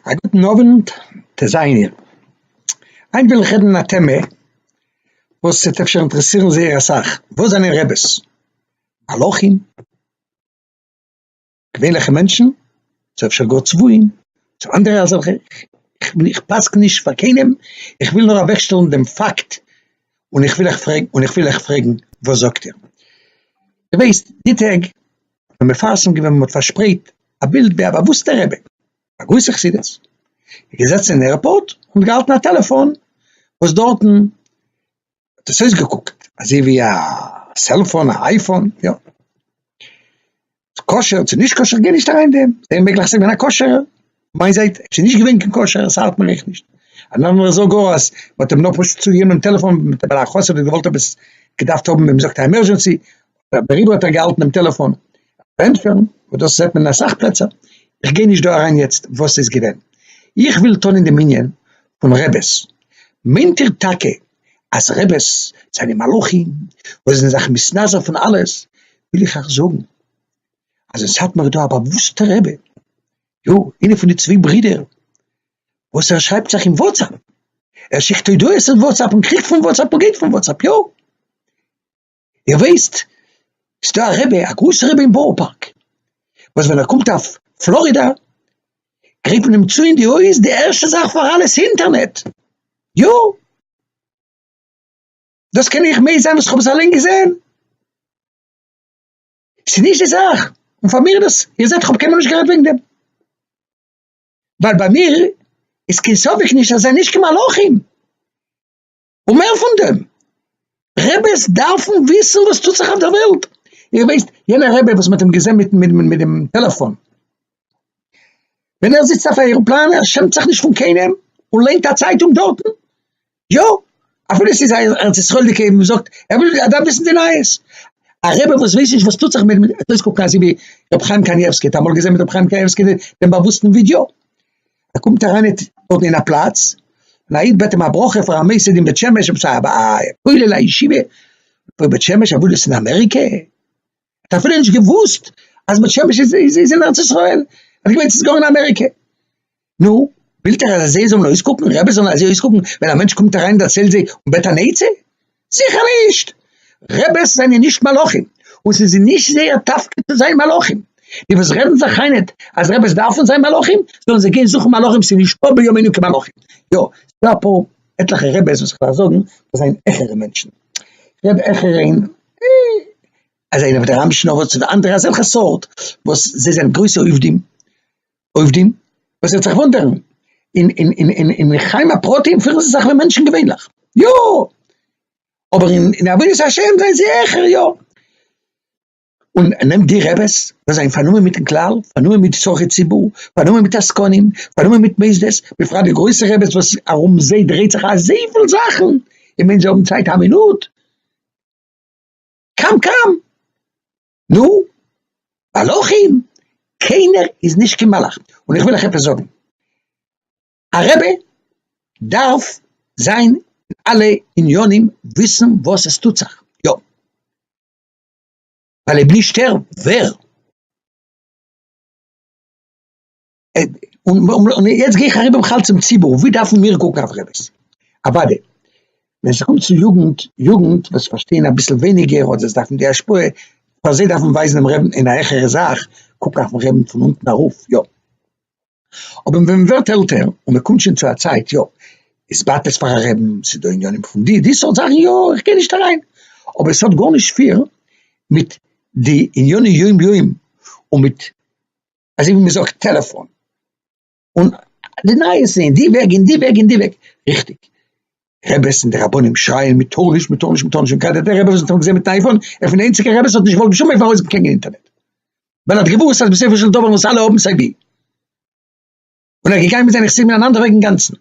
א גוטן אווענט טעזייענער, היינט וויל איך רעדן אין א טעמע וואס וועט אפשר אינטערעסירן זייער אסאך, וואס זענען רעבעס? מלאכים? געווענליכע מענטשן? צו אפשר גאר צבועים? צו אנדערע אזעלכע? איך פסק נישט פאר קיינעם, איך וויל נאר אוועק שטעלן דעם פאקט, און איך וויל אייך פרעגן, און איך וויל אייך פרעגן, וואס זאגט איר? איר ווייסט, די טעג האט מען מפרסם געווען מען האט פארשפרייט א בילד ביי א באוואוסטע רבי א גרויסע חסידות איז געזעצן אין עירפארט און געהאלטן א טעלעפאן וואס דארטן האט עס אויסגעקוקט אזוי ווי א סעלפאן א אייפאן יא כשר צו נישט כשר גיי נישט אריין דעם זייער מעגליך ס'געווען א כשר'ע. מיין זייט, עס איז נישט געווען קיין קשר, עס האלט מען אייך נישט. אן אנדערער זאגט גאר אז מען האט אים נאר פשוט צוגעגעבן דעם טעלעפאן ווייל א חסיד האט געוואלט עפעס געדארפט האבן ווי מען זאגט א עמערזשענסי, דעריבער האט ער געהאלטן דעם טעלעפאן. ענטפערן, און דאס זעט מען אין אסאך פלעצער, איך גיי נישט דא אריין יעצט וואס ס'איז געווען, איך וויל טון אין דעם ענין פון רעבעס. מיינט איר טאקע אז רעבעס זענען מלאכים וואס זענען זיך מתנזר פון אלעס, וויל איך אייך זאגן אז אין סאטמאר איז דא א באוואוסטע רבי יא, איינע פון די צוויי ברידער וואס ער שרייבט זיך אין וואטסעפפ, ער שיקט הודעות אין וואטסעפפ און קריכט פון וואטסעפפ און גייט פון וואטסעפפ, יא. איר ווייסט, ס'איז דא א רבי, א גרויסע רבי אין בארא פארק, וואס ווען ער קומט אויף פלארידא, גרייט מען אים צו אין די הויז, די ערשטע זאך פאר אלעס אינטערנעט, יא. דאס קען איך מעיד זיין וואס איך האב עס אליין געזען. ס'איז נישט די זאך, און פאר מיר איז דאס, איר זעט כ'האב קיינמאל נישט גערעדט וועגן דעם, ווייל ביי מיר איז קיין ספק נישט אז זיי זענען נישט קיין מלאכים, און מער פון דעם, רעבעס דארפן וויסן וואס טוט זיך אויף דער וועלט, איר ווייסט יענער רבי וואס מ'האט אים געזען מיט מיט מיט דעם טעלעפאן, ווען ער זיצט אויף א עראפלאן ער שעמט זיך נישט פון קיינעם און ליינט א צייטונג דארטן, יא, אפילו עס איז א ארץ ישראל'דיגע וואס זאגט, ער וויל ער דארף וויסן די נייעס, א רבי וואס ווייסט נישט וואס טוט זיך מיט מיט אויסקוקן אזוי ווי רבי חיים קנייבסקי, האט אמאל געזען מיט רבי חיים קנייבסקי דעם באוואוסטן ווידיאו, ער קומט אריין אין דארט אין א פלאץ, און א איד בעט אים א ברכה פאר א מייסד אין בית שמש, א כולל א ישיבה, פוי בית שמש, א וואוילערס אין אמעריקע. האט אפילו נישט געוואוסט אז בית שמש איז איז אין ארץ ישראל, ער האט געמיינט ס'איז גאר אין אמעריקע, נו, ווילט ער אז זיי זאלן אויסקוקן, רעבעס זאלן אזוי אויסקוקן ווען א מענטש קומט אריין און דערציילט זיי און בעט אן עצה? זיכער נישט! רעבעס זענען נישט מלאכים, און ס'איז נישט זייער תפקיד צו זיין מלאכים, די וואס רעדן זיך איין אט אז רעבעס דארפן זיין מלאכים, זאלן זיי גיין זוכן מלאכים ס'איז נישטא בימינו קיין מלאכים, יא, ס'דא אפאר עטליכע רעבעס וואס כ'דארף זאגן וואס זענען העכערע מענטשן, כ'רעד העכער אין. אז איינער ווי דער רבי שינאוואס און אנדערע אזעלכע סארט וואס זיי זענען גרויסע עובדים עובדים וואס וועט זיך וואונדערן אין אין אין אין אין חיים הפרטיים פירן זיי זיך ווי מענטשן געווענליך יא אבער אין אין עבודת השם זענען זיי העכער יא און נעמט די רעבעס וואס זענען פארנומען מיטן כלל פארנומען מיט צרכי ציבור פארנומען מיט עסקנים פארנומען מיט מוסדות בפרט די גרויסע רעבעס וואס ארום זיי דרייט זיך אזויפיל זאכן און מען זיי האבן צייט א מינוט קאם קאם! נו, מלאכים? קיינער איז נישט קיין מלאך, און איך וויל אייך עפעס זאגן, א רבי דארף זיין אין אלע עניינים וויסן וואס עס טוט זיך, יא, ווייל אויב נישט ער, ווער? און יעצט גיי איך אריבער בכלל צום ציבור, ווי דארפן מיר קוקן אויף רעביס? אוואדי, ווען ס'קומט צו יוגנט, יוגנט וואס פארשטייען אביסל ווייניגער אדער זיי דארפן די השפעה, פאר זיי דארף מען ווייזן דעם רעבין אין א העכערע זאך, קוק אויפן רעבין פון אונטן ארויף, יא. אבער ווען מען ווערט עלטער און מען קומט שוין צו א צייט, יא, איז באטעס פאר א רעבין, ס'איז דא עניינים פון די, די סארט זאכן, יא, איך גיי נישט אריין, אבער ס'האט גארנישט פיר מיט די ענייני יום יום און מיט אזוי ווי מ'זאגט טעלעפאן, און די נייעס אין די וועג אין די וועג אין די וועג, ריכטיג, רעבעס און די רבנים שרייען מ'טאר נישט מ'טאר נישט מ'טאר נישט, און גראדע דער רבי וואס מ'האט אמאל געזען מיטן אייפאן, ער איז פון די איינציגע רעבעס וואס האט נישט געוואלט בשום אופן ארויסגעבן קיין אינטערנעט, ווייל ער האט געוואוסט אז בסופו של דבר וועלן עס אלע האבן סיי ווי. און ער איז געגאנגען מיט זיינע חסידים אין אן אנדער וועג אינגאנצן,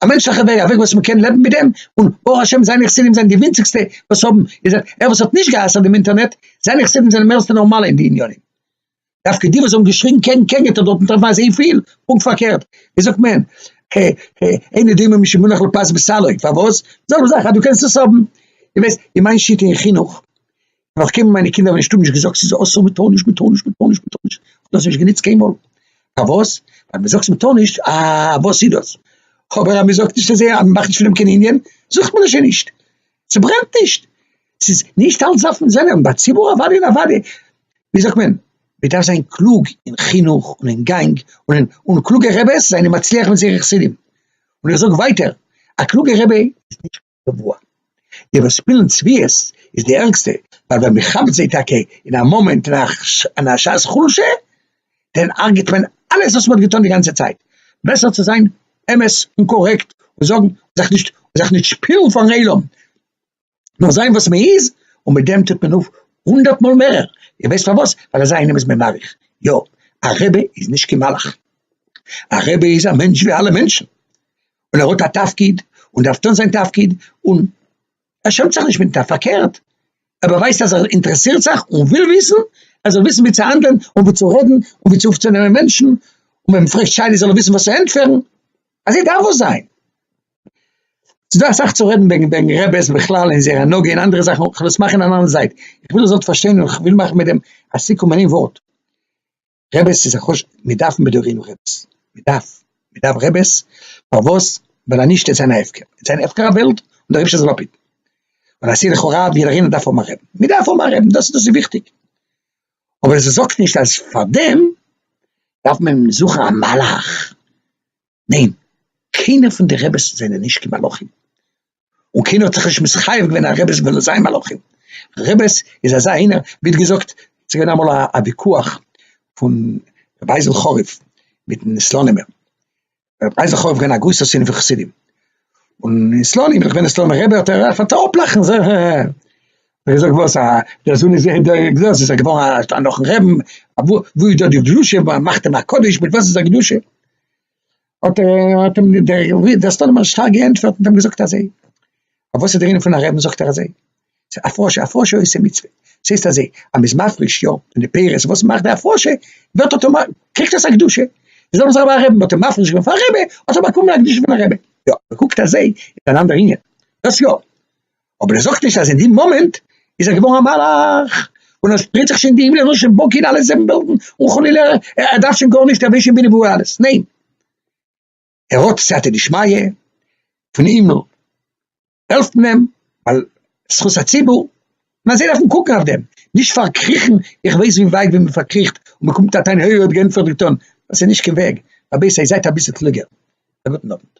א מענטשליכע וועג, א וועג וואס מען קען לעבן מיט דעם, און ברוך השם זיינע חסידים זענען די ווינציגסטע וואס האבן, איר זעט, ער וואס האט נישט גע'אסר'ט דעם אינטערנעט, זיינע חסידים זענען מערסטע נארמאלע אין די עניינים, דווקא די וואס האבן געשריגן קעגן קעגן געטאר דארטן טרעפן אזוי פיל, פונקט פארקערט, ווי זאגט מען, ה ה אין דעם משום מונח לפז בסלוי, פארוואס? זעלבע זאך אז דו קענסט עס האבן, איר ווייסט, אין מיין שיטה אין חינוך, נאך קיינמאל מיינע קינדער האבן נישט טאמאר נישט געזאגט ס'איז אסור מען טאר נישט מען טאר נישט מען טאר נישט מען טאר נישט, כ'האב דאס נישט גענוצט קיינמאל, פארוואס? ווייל מען זאגט מען טאר נישט אה וואס איז דאס, אבער אז מען זאגט נישט אזוי אז מען מאכט נישט פון דעם קיין ענין, זאגט מען עס שוין נישט, ס'ברענט נישט, ס'איז נישט אלץ דארף מען זיין, און ביי ציבור אוודאי און אוודאי, ווי זאגט מען, מען דארף זיין קלוג אין חינוך און אין גאנג, און קלוגע רעבעס זענען מצליח מיט זייערע חסידים, און איך זאג ווייטער, א קלוגע רבי איז נישט. גבוה. איבער שפילן צביעות איז די ערגסטע, ווייל ווען מען כאפט זיי טאקע אין א מאמענט אין א שעת חולשה, דען הרג'עט מען אלעס וואס מען האט געטון די גאנצע צייט. בעסער צו זיין אמת און קארעקט און זאגן און זיך נישט און זיך נישט שפילן פארן עולם, נאר זיין וואס מען איז, און מיט דעם טוט מען אויף הונדערט מאל מערער, איר ווייסט פארוואס? ווייל אזא איינעם איז מען מעריך. יא, א רבי איז נישט קיין מלאך, א רבי איז א מענטש ווי אלע מענטשן, און ער האט א תפקיד און דארף טון זיין תפקיד, און ער שעמט זיך נישט מיט א פארקערט, ער באווייזט אז ער אינטערעסירט זיך און וויל וויסן, ער זאל וויסן ווי צו האנדלען און ווי צו רעדן און ווי צו אויפצונעמען מענטשן, און ווען מען פרעגט שאלות זאל ער וויסן וואס צו ענטפערן, אזוי דארף ער זיין. ס'איז דא אסאך צו רעדן וועגן וועגן רעבעס בכלל און זייער הנהגה און אנדערע זאכן, כ'וועל עס מאכן אין אן אנדער זייט, איך וויל איר זאלט פארשטיין און כ'וויל מאכן מיט דעם א סיכום אין איין ווארט, רעבעס איז א חשק, מיר דארפן בדורינו רעבעס, מען דארף, מען דארף רעבעס, פארוואס? ווייל אנישט איז זיין א הפקר, איז זיין א הפקר א וועלט, און דער רבשע זאל אפהיטן, און א שילוח הרב יעדער איינער דארף האבן א רעבן, מיר דארף האבן א רעבן דאס איז וויכטיג, אבער עס זאגט נישט אז פארדעם דארף מען זוכן א מלאך, ניין, קיינער פון די רעבעס זענען נישט קיין מלאכים, און קיינער האט זיך נישט מסחייב געווען א רעבעס וועלן זיין מלאכים, רעבעס איז אזא איינער ווי האט געזאגט ס'איז געווען אמאל א וויכוח פון רבי אייזל חריף מיטן סלאנימער, רבי אייזל חריף איז געווען א גרויסער שונא פון חסידים, און אין סלאנים ווען איך בין אין סלאנימער רבי האט ער אנגעפאנגען צו אפלאכן און זאגן העהעהע, האט ער געזאגט וואס א דער זון איז געווען דער גדול איז ער געווארן נאכן רעבן, וואו איז דא די קדושה, מאכט אים א קדוש, מיט וואס איז די קדושה? האט אים דער סטאלמאן שטארק געענטפערט און געזאגט אזוי, אויף וואס איז דער ענין פון א רעבן? זאגט ער אזוי, א פרשה, א פרשה עושה מצוה, ס'הייסט אזוי, אז מ'איז מפריש יא פון די פירות, וואס מאכט די הפרשה, ווערט אטאמאט, קריגט עס א קדושה, איז דאך אזוי ביי א רעבן, מ'האט אים מפריש געווען פאר א רעבע, האט ער באקומען א קדושה פון א רעבע, יא, מ'קוקט אזוי, איז אן אנדער ענין, דאס יא. אבער ער זאגט נישט אז אין די מאמענט איז ער געווארן א מלאך, און עס שפרייט זיך שוין די הימל ער זאל שוין בוקען אלע זיבן וועלטן, און חלילה ער דארף שוין גארנישט ער ווייסט שוין ווי נברא אלעס, ניין ער האט סייעתא דשמיא פון הימל העלפט מען אים ווייל זכות הציבור, און אזוי דארף מען קוקן אויף דעם, נישט פארקריכן, איך ווייס ווי ווייט ווי מען פארקריכט און מען קומט אהן העי ער האט געענטפערט געטון, דאס איז נישט קיין וועג, רבותי זייט אביסל קלוגער, א גוטן אוונט.